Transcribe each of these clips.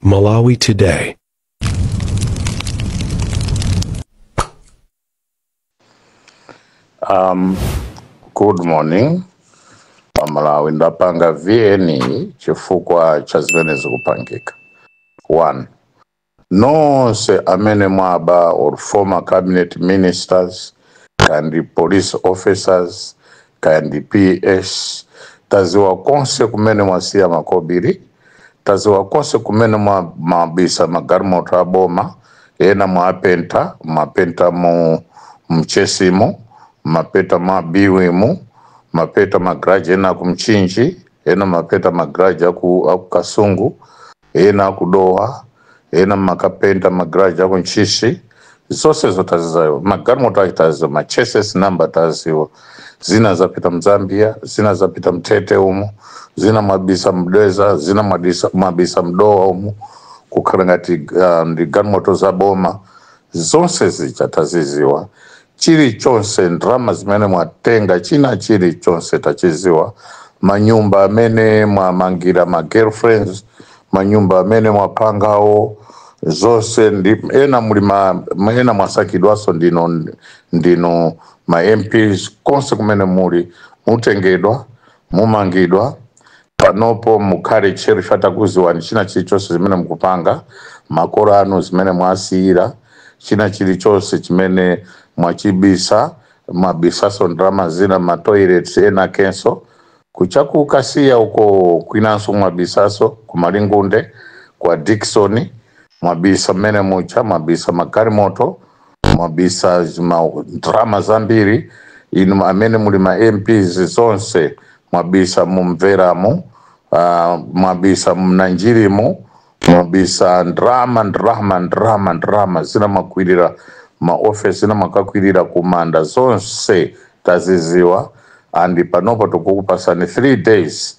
Malawi Today. Um, good morning aMalawi ndapanga VN chifukwa cha zimene zikupangika one nonse amene mwaba ma former cabinet ministers kaya ndi police officers kaya ndi ps taziwa konse kumene mwasiya makobiri taziwa konse kumene mwa- mwabisa magalimoto aboma ena mwapenta mwapenta mu Mchesimo mwapenta mu Biwimu mwapenta magaraji ena aku Mchinji ena mwapenta magaraji aku, aku Kasungu ena aku Dowa ena mwakapenta magaraji aku Ntchisi zonsezo taziziwa magalimoto ake taziwa ma chassis number taziwa zina zapita mZambia zina zapita mTete umo zina mwabisa mDedza zina mwabisa- mwabisa mDowa umo kukhala ngati uh, ndi galimoto za boma zonse zija taziziwa chilichonse ndalama zimene mwatenga china chilichonse tachiziwa manyumba amene mwamangira ma girlfriend manyumba amene mwapangawo zonse ndi ena muli ma ma- ena mwasankhidwaso ndinu ndinu ma mps konse kumene muli mutengedwa mumangidwa Panopo mukhale tcheru ife takuziwani china chilichonse zimene mukupanga, makolo anu zimene mwasiyira, china chilichonse chimene mwachibisa, mwabisaso ndalama zina mma toilets enakenso, kucha ku Kasiya uko kwinanso mwabisaso, ku Malingunde, kwa Dickson, mwabisa mmene muja, mwabisa magalimoto, mwabisa ma ndrama zambiri inu amene muli ma mps zonse mwabisa mu Mveramu uh, mwabisa mu Nanjirimu mwabisa ndrama ndrama ndrama ndrama zina mwakwirira maofesi zina mwakakwirira kumanda zonse taziziwa and panopo tikukupasani 3 days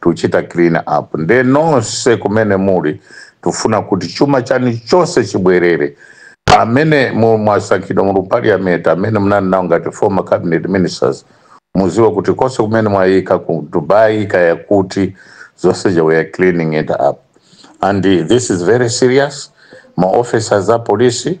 tuchita clean up nde nonse kumene muli tufuna kuti chuma chani chose chibwerere amene mu- mwasankhidwa muli mu parliament amene munali nawo ngati former cabinet ministers muziwe kuti konse kumene mwayika ku Dubai kaya kuti zonse ija we are cleaning it up and uh, this is very serious ma officers a polisi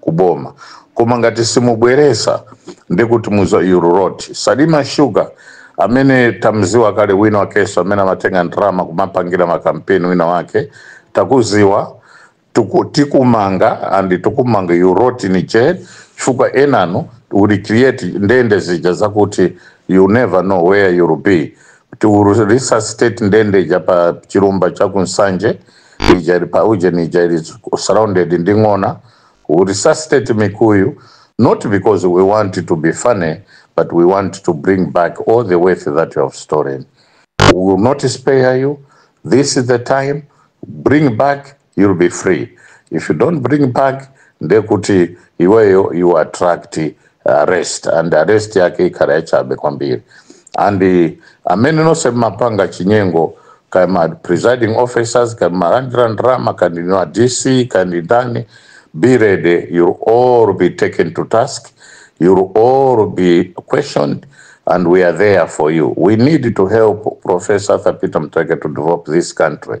kuboma koma ngati simubweresa ndekuti muziwa you rot salima sugar amene tamziwa kale wina wakeso amene amatenga ndrama kumapangira ma campaign wina wake takuziwa tuku, tikumanga and tikumanga you rot in jail chifukwa enanu will create ndende zija zakuti you never know where you'll be to resuscitate ndende ija ya pa chilumba cha kunsanje ija ili pa ujeni ija ili surrounded ndi ng'ona we resuscitate mikuyu not because we want to be funny but we want to bring back all the wealth that you have stolen we will not spare you this is the time bring back you'll be free if you don't bring back ndekuti iweyo you attract arrest and arrest yake ikhala yachabe kwambiri and amene nonse mmapanga chinyengo kaya ma presiding officers kaya malandira ndalama kandi no dc kandi ndani be ready you'll all be taken to task you'll all be questioned and we are there for you we need to help professor arthur peter mteke to develop this country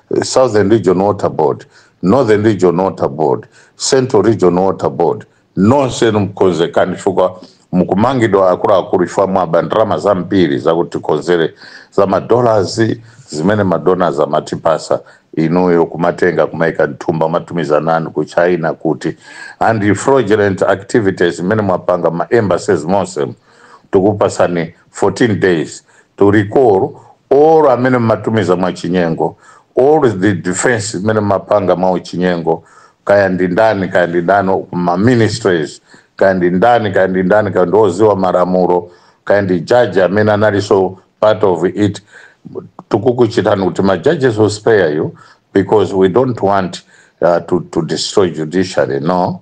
Southern Region Water Board, Northern Region Water Board, Central Region Water Board, nonse mkonzekani chifukwa mukumangidwa akuluakulu chifukwa mwaba ndalama zambiri zakutikonzere za madollars zimene madonors amatipasa inuyo kumatenga kumaika mthumba mwatumiza nani ku china kuti and fraudulent activities zimene mwapanga ma embassies monse tikupasani 14 days to recall all amene mmatumiza mwachinyengo, all the defence imene mmapanga mwauchinyengo, kaya ndi ndani kaya ndi ndani ku ma ministries, kaya ndi ndani kaya ndi ndani, kaya ndi oziwa malamulo, kaya ndi judge amene analinso part of it, tikukuchitani kuti ma judges we'll spare you because we don't want uh, to, to destroy judiciary no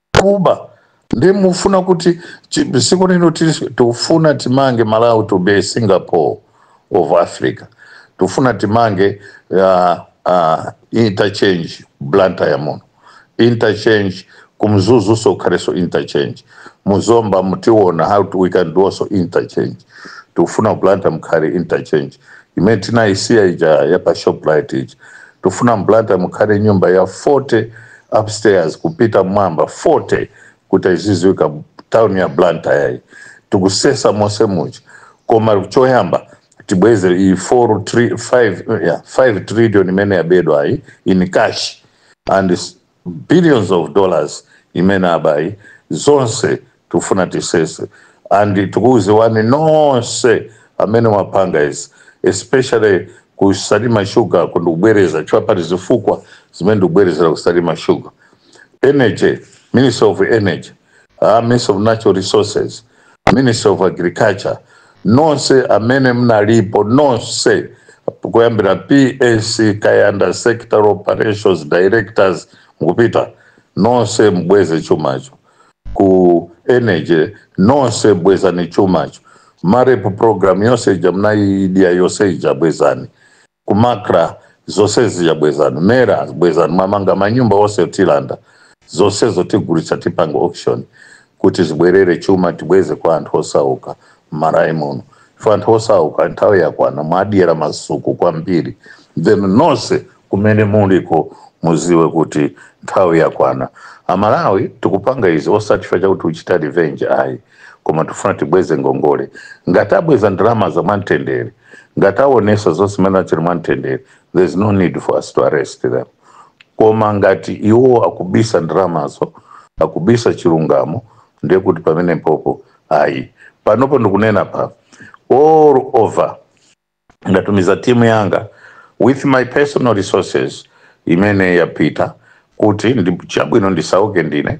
kuba ndi mufuna kuti chi- dziko lino tili- tikufuna timange malawi to be singapore of africa tifuna timange uh, uh, interchange blantyre muno interchange kumzuzuso kukhaleso interchange muzomba mutiona how to, we can do also interchange tikufuna blantyre mukhale interchange imene tinayisiya ija ya pa shoprite ija tikufuna blantyre mukhale nyumba ya 40 upstairs kupita mwamba 40 kuti aiziziwika town ya blantyre iyi tikusesa monse muja koma choyamba tibweze iyi 4 tri- 5 yeah, 5 trillion imene yabedwa iyi in cash and s- billions of dollars imene abayi zonse tufuna tisese and tikukuziwani nonse amene mwapanga izi especially ku salima sugar ku ndikubwereza chifukwa pali zifukwa zimene ndikubwerezera ku salima sugar energy ministry of energy a ministry of natural resources ministry of agriculture nonse amene mnalipo nonse kuyambira ps kaya nda sector operations directors mukupita nonse mbweze chumacho ku energy nonse bwezani chumacho marep program yonse ija mnayiidya yonse ija bwezani ku MACRA zonse zija bwezani MERA bwezani mwamanga manyumba onse tilanda zonsezo tigulitsa tipanga auction kuti zibwerere chuma tibweze kwa anthu osauka m'Malawi muno ife anthu osauka nthawi yakwana mwadyera masuku kwambiri then nonse kumene muliko muziwe kuti nthawi yakwana amalawi tikupanga izi osati chifukwa chakuti tikuchita revenge ayi koma tifuna tibweze ngongole ngati abweza ndalama za mwamtendere ngati awonesa zonse zimene achita mwamtendere there is no need for us to arrest them koma ngati iwo akubisa ndalamazo akubisa chilungamo ndiye kuti pamenepo ayi panopo ndikunena pa all over ndatumiza timu yanga with my personal resources imene yapita kuti chabwino ndisauke ndine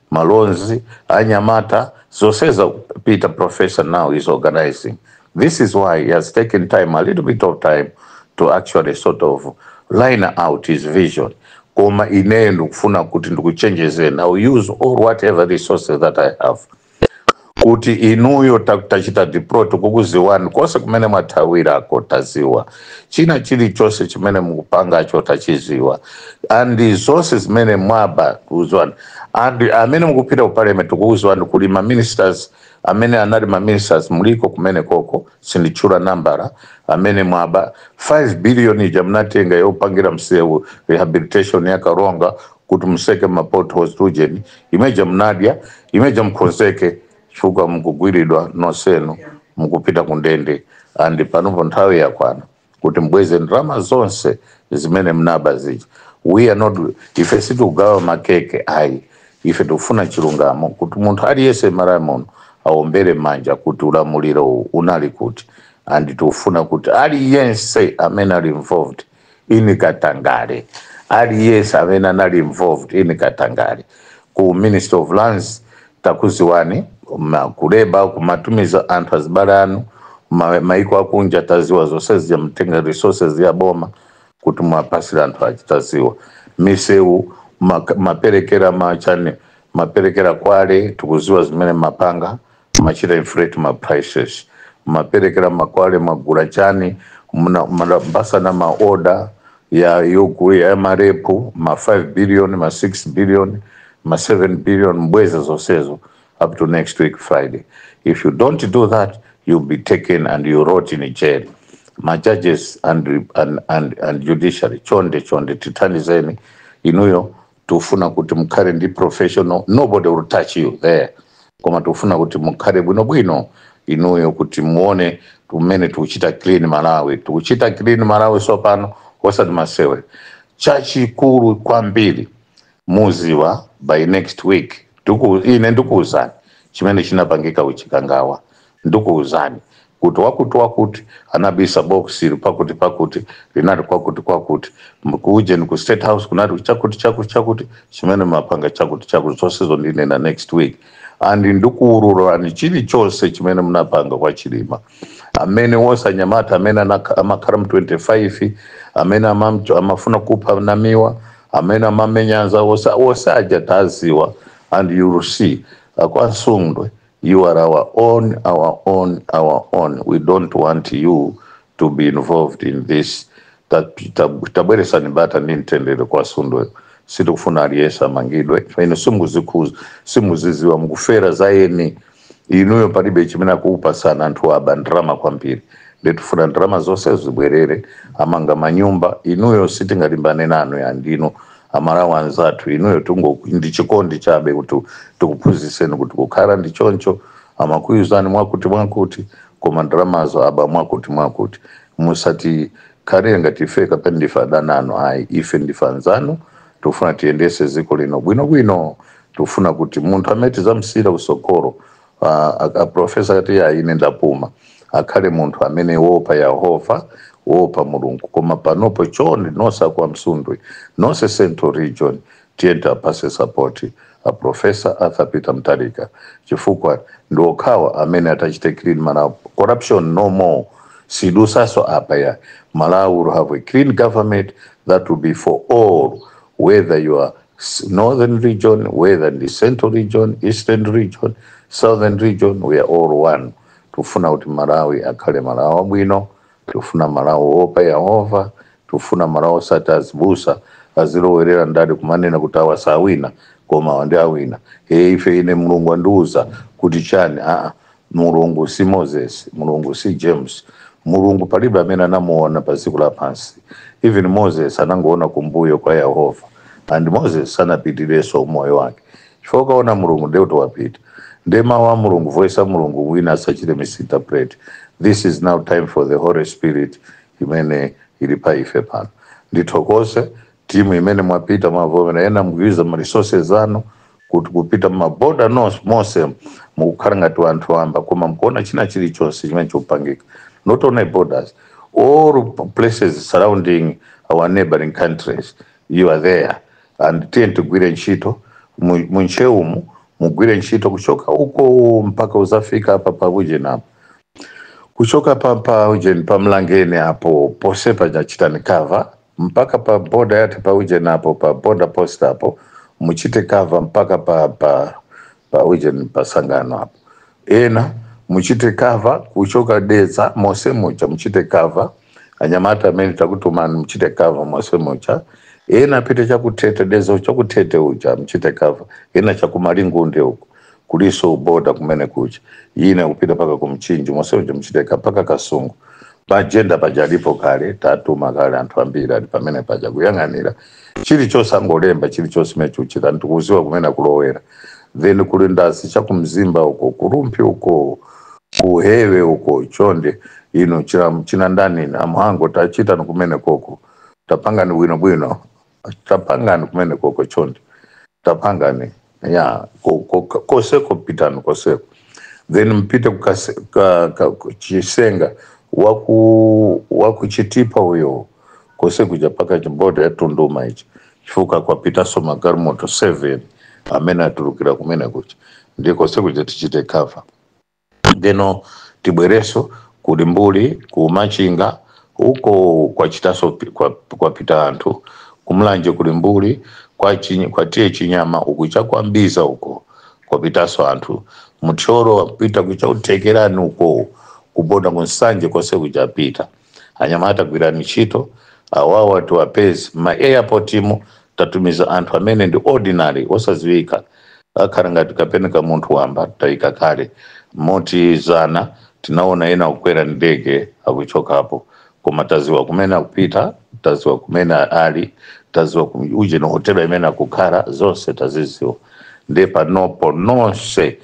amalonda anyamata zonse za Peter professor now is organizing this is why he has taken time a little bit of time to actually sort of line out his vision koma ineyo ndikufuna kuti ndikuchenjezeni I will use all whatever resources that i have kuti inuyo tachita deploy tikukuziwani konse kumene mwathawirako taziwa china chili chose chimene mukupangacho tachiziwa and zose zimene mwaba kuziwani and amene mukupita ku parliament tikukuziwani kuli ma ministers amene anali ma ministers muliko kumeneko sinditchula nambala amene mwaba 5 billion ija mnatenga yopangira msewu rehabilitation ya karonga kuti mutseke ma potholes tujeni imeja mnadya imeja mkonzeke chifukwa mkugwiridwa nosenu mkupita kundende and panopo nthawi yakwana kuti mbweze ndrama zonse zimene mnaba zija we are not ife situgawa makeke ayi ife tikufuna chilungamo kuti munthu aliyense m'Malawi muno aombere manja kuti ulamuliro uwu unali kuti and tikufuna kuti aliyense amene ali involved in katangale aliyese amene anali involved in katangale ku ministry of lands takuziwani ma- ku labour kumatumiza anthu azibale anu ma- maiko akunja taziwa zonse zija mumatenga resources ya boma kuti muwapatsire anthu aja taziwa misewu mumaperekera ma chani mumaperekera kwale tikuziwa zimene mumapanga Machira inflate ma prices mmaperekera ma kwale mwagula chani mna mnapasana ma order ya yogu ya ma rep ma 5 billion ma 6 billion ma 7 billion mbweze zonsezo up to next week Friday if you don't do that you'll be taken and you rot in jail ma judges and, and, and, and judiciary chonde chonde tithandizeni inuyo tufuna kuti mukhale ndi professional nobody will touch you there koma tufuna kuti mukhale bwinobwino inuyo kuti muone mmene tukuchita clean malawi tukuchita clean malawi sopano osati masewera chachikulu kwambiri muziwa by next week ine ndikuwuzani chimene chinapangika ku Chikangawa Ndikuuzani kuti wakuti-wakuti anabisa box pakuti-pakuti linali kwakuti-kwakuti, ku ujeni ku state house kunali chakuti-chakuti-chakuti, chimene mapanga chakuti-chakuti, zonsezo ndinena next week and ndikuululani chilichonse chimene munapanga kwa Chilima amene wonse anyamata amene anakha- amakhala mu 25 amene amamcho- amafuna kupha Namiwa amene amamenya anzawo wonse wonse aja taziwa and you will see akwa Msundwe you are our own, our own, our own. We don't want you to be involved in this. Tabweresani bata ndi mtendere kwa Msundwe sitikufuna aliyense amangidwe pamene simuzikhuza simuziziwa mukufera za eni inuyo palibe chimene akukupatsani anthu aba ndalama kwambiri nde tifuna ndalama zonse zibwerere amanga manyumba inuyo sitingalimbane nanu ayi ndinu amalawi anzathu inuyo tungo ndi chikondi chabe kuti tikuphunzitseni kuti kukhala ndi choncho amakuuzani mwakuti mwakuti koma ndalamazo aba mwakuti mwakuti musatikhalire ngati ife kapena ndife adani anu ayi ife ndife anzanu tikufuna tiyendese dziko lino bwinobwino tikufuna kuti munthu amene tidzamsiyira utsogoleri a professor akati ya ine ndapuma akhale munthu amene woopa yehova woopa mulungu koma panopo chonde nonse akwa msundwe nonse central region tiyeni tiwapase sapoti a professor arthur peter Mutharika chifukwa ndi okhawa amene atachite clean malawi corruption no more sizidutsanso apa ayi malawi will have a clean government that will be for all whether you are Northern region, whether ndi central region, eastern region, southern region, we are all one. Tufuna kuti Malawi akhale Malawi wabwino, tufuna Malawi woopa Yehova, tufuna Malawi osati azibusa azilowerera ndale kumanena kuti awa sawina koma awa nde awina. E, ife ine Mulungu andiuza kuti chani? Aa, mulungu si moses mulungu si james mulungu palibe amene anamuona pa dziko lapansi even moses anangoona kumbuyo kwa yehova and moses anapitiranso umoyo wake chifukwa ukaona mulungu ndiye kuti wapita ndiye mawu a mulungu voice ya mulungu wina asachite misinterpret this is now time for the holy spirit imene ili pa ife pano ndithokoze timu imene mwapita mwavomera enanu mkuiza ma resources anu kuti kupita mumaboda monse monse mukukhala ngati wanthu wamba koma mkuona china chilichonse chimene chikupangika not only borders all places surrounding our neighboring countries you are there and tiyeni tigwire ntchito mu- mu Ntcheu umu mugwire ntchito kuchoka uko mpaka kuzafika apa paujeni apo kuchoka pa paujeni pa Mlangeni apo ponse pachiteni cover mpaka pa boda yathu pa uje napo pa boda post apo muchite cover mpaka pa pa pa uje pa sangano apo ena muchite cover kuchoka deza mose mucha muchite cover anyamata amene takutumani muchite cover mose mucha ena apite chakutete deza chakutete uja muchite cover ena chakumalingunde uko kuliso border kumene kuja ina kupita mpaka ku mchinji mose muja mchiteka mpaka kasungu pa jenda paja alipo kale tatuma kale anthu ambiri ali pamene paja kuyang'anira chilichonse angolemba chilichonse mene chikuchitika ndi kuziwa kumene akulowera then kuli ndasi chakumzimba uko ku rumphi uko kuhewe uko chonde inu china ndani inu a mhango tachitani kumenekoko tapangani bwinobwino tapangani kumenekoko chonde tapangani ya ko- ko- ko- koseko pitani koseko then mpite kukase- ka- ka- ku- chisenga waku wakuchitipa uyo kose kuja paka chiborder cha tunduma ichi chifukwa kwapitaso magalimoto 7 amene atulukira kumene kuja nde kose kuja tichite cover ndeno tibwereso ku limbuli ku machinga uko kwachitaso pi- kwa- kwapita anthu ku mulanje ku limbuli kwa, Chinyi- kwa tiye chinyama uku cha kwa mbiza uko kwapitaso anthu muthyolo wapita kucha ku thekerani uko ku border ku nsanje konse kuja apita anyamata akugwira ntchito awawa tiwapeze mma airport mu tatumiza anthu amene ndi ordinary osaziwika akhala ngati kapena ka munthu wamba tayika kale moti zana tinaona ena kukwera ndege akuchokapo koma taziwa kumene akupita taziwa kumene ali taziwa kum- uje ni hotela imene akukhala zonse taziziwa nde panopo nonse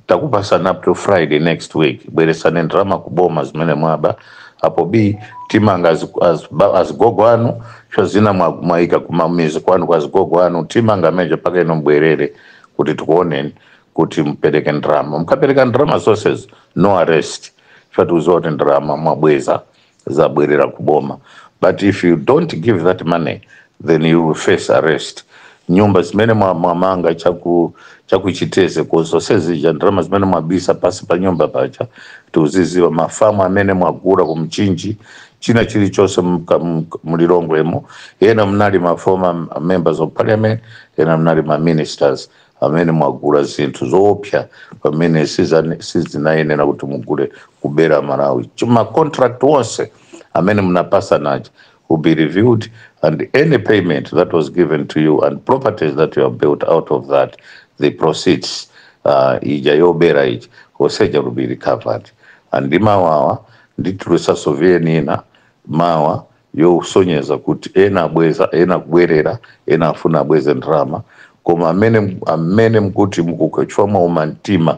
takupasani up to friday next week bweresani ndalama kuboma zimene mwaba apo b timanga azi- azi- ba- azigogo anu cho zina mwa- mwaika kumamizi kwanu kwa azigogo anu timanga meja paka ino mbwerere kuti tikuoneni kuti mupereke ndalama mukapereka ndalama zonse no arrest choti uziwa kuti ndalama mwabweza zabwerera ku boma but if you don't give that money then you will face arrest nyumba zimene mwa- mwamanga chaku cha ku chitedze ko zonse zija ndalama zimene mwabisa pasi pa nyumba paja tikuziziwa mafamu amene mwagula ku mchinji china chilichonse mka- mka- mlilongwemo ena mnali ma former members of parliament ena mnali ma ministers amene mwagula zinthu zoopsa pamene sizane- sizinayenera kuti mugule kubera malawi chuma contract onse amene munapasana aja will be reviewed and any payment that was given to you and properties that you have built out of that the proceeds uh, ija yobera ija yose ija will be recovered and ndi mawawa nditulusa survey ina mawa yosonyeza kuti ena abweza ena akubwerera ena afuna abweze ndalama koma amene amene mkuti mukukhwecha mwauma mtima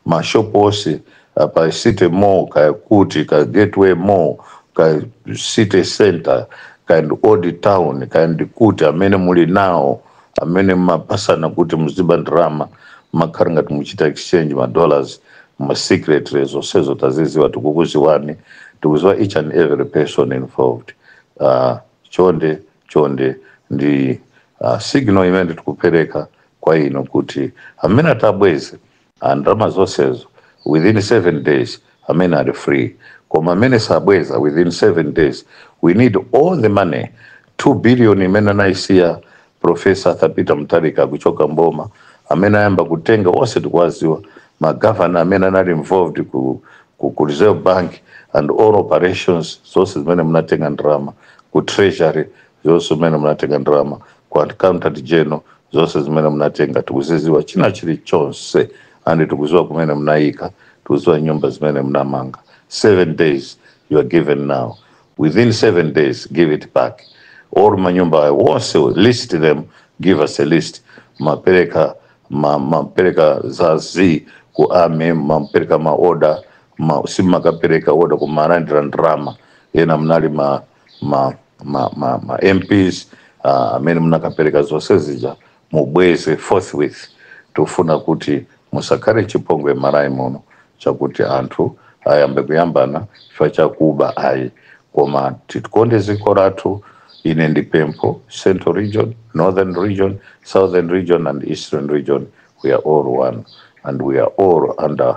mashopu onse ah, pa city mall kaya kuti ka gateway mall ka city center kandi old town kandi kuti amene muli nawo amene mmapasana kuti muziba ndalama mmakhara ngati muchita exchange ma dollars mma secret mo zonsezo taziziwa tikukuziwani tikuziwa each and every person involved uh, chonde chonde ndi uh, signal imene tikupereka kwa inu kuti amene atabweze andalama zonsezo within 7 days amene ali free koma amene sabweza within 7 days we need all the money 2 billion imene anayisiya professor Arthur Peter Mutharika kuchoka mboma amene ayamba kutenga onse tikuwaziwa magavana amene anali involved ku, ku, ku Reserve Bank and all operations zonse zimene munatenga ndalama ku treasury zonse zimene munatenga ndalama ku accountant general zonse zimene munatenga tikuziziwa china chilichonse and tikuziwa kumene munayika tikuziwa nyumba zimene munamanga seven days you are given now within seven days give it back or manyumba wonse list them give us a list mapereka ma- mapereka za z ku army mapereka maoda ma, simakapereka maoda kumalandira ndrama ena mnali ma ma ma ma ma mps ah, amene munakapereka zonse zija mubweze forthwith tufuna kuti musakhale chipongwe m'malawi muno chakuti anthu ayambe kuyambana chifukwa chakuba ayi koma titikonde dziko lathu ine ndi pempho central region northern region southern region and eastern region we are all one and we are all under